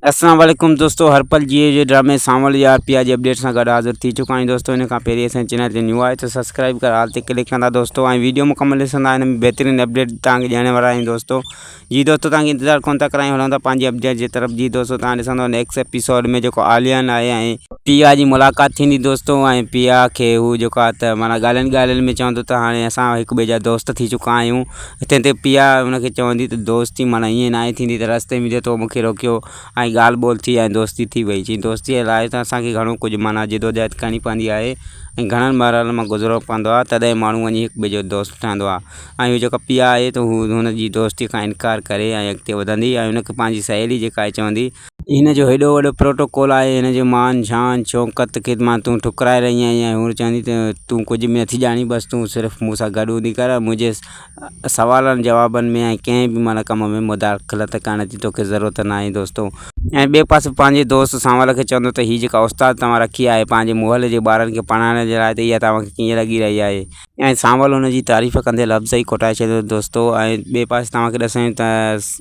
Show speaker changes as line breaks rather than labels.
السلام عليڪم دوستو هر پل جيئي جي ڊرامي سانول جي آر پي آر جي اپڊيٽ سان گڏ حاضر ٿي چڪا آهيون دوستو ان کان پهرين اسان چينل تي نيو آهي ته سبسڪرائب ڪر آل تي ڪلڪ ڪندا دوستو ۽ ويڊيو مڪمل ڏسندا ان ۾ بهترين اپڊيٽ تان کي ڏيڻ وارا آهيون دوستو جي دوستو تان کي انتظار ڪون ٿا ڪرايون هلون ٿا پنهنجي اپڊيٽ جي طرف جي دوستو تان ڏسندو نيڪسٽ اپيسوڊ ۾ جيڪو آليان آهي ۽ پي آ جي ملاقات ٿيندي دوستو ۽ پي آ کي هو جيڪو آ ته مانا ڳالهين ڳالهين ۾ چوندو ته هاڻي اسان هڪ ٻئي جا دوست ٿي چڪا آهيون تنهن تي پيا هن کي چوندي ته دوستي معنيٰ ائين ناهي ٿيندي ته رستي ۾ جي تو مون کي روڪيو ۽ ڳالهه ٻولهه ٿي ۽ دوستي ٿي وئي. چيائين، دوستيء لاء ته اسان کي گهڻو ڪجهه معنيٰ جدوجهد ڪرڻي پوندي آهي ۽ گهڻن مرحلن مان گذرڻو پوندو آهي، تڏهن ماڻهو وڃي هڪٻئي جو دوست ٺهندو آهي ۽ اهو جيڪا پيا آهي ته هو هن جي دوستيء کان انڪار ڪري ۽ اڳتي وڌندي ۽ هن کي پنهنجي سهيلي جيڪا آهي چوندي هن جو هيڏو وڏو پروٽوڪول آهي، هن جي مان، شان، شوڪت کي مان تون ٺڪرائي رهي آهين ۽ هونئن چوندين ته تون ڪجهه به نٿي ڄاڻين، بس تون صرف مون سان گڏ هوندي ڪر ۽ منهنجي سوالن جوابن ۾ ۽ ڪنهن به معنيٰ ڪم ۾ مداخلت ڪرڻ جي توکي ضرورت ناهي دوستو. ۽ ٻئي پاسي پنهنجي دوست سانول کي چوندو ته هي جيڪا استاد توهان رکي آهي پنهنجي محلي جي ٻارن کي پڙهائڻ جي لاء ته اها توهان کي ڪيئن لڳي رهي آهي؟ ۽ سانول هن جي تعريف ڪندي لفظ ئي کوٽائي ڇڏيندا دوستو ۽ ٻئي پاسي توهان کي ڏسايون ته.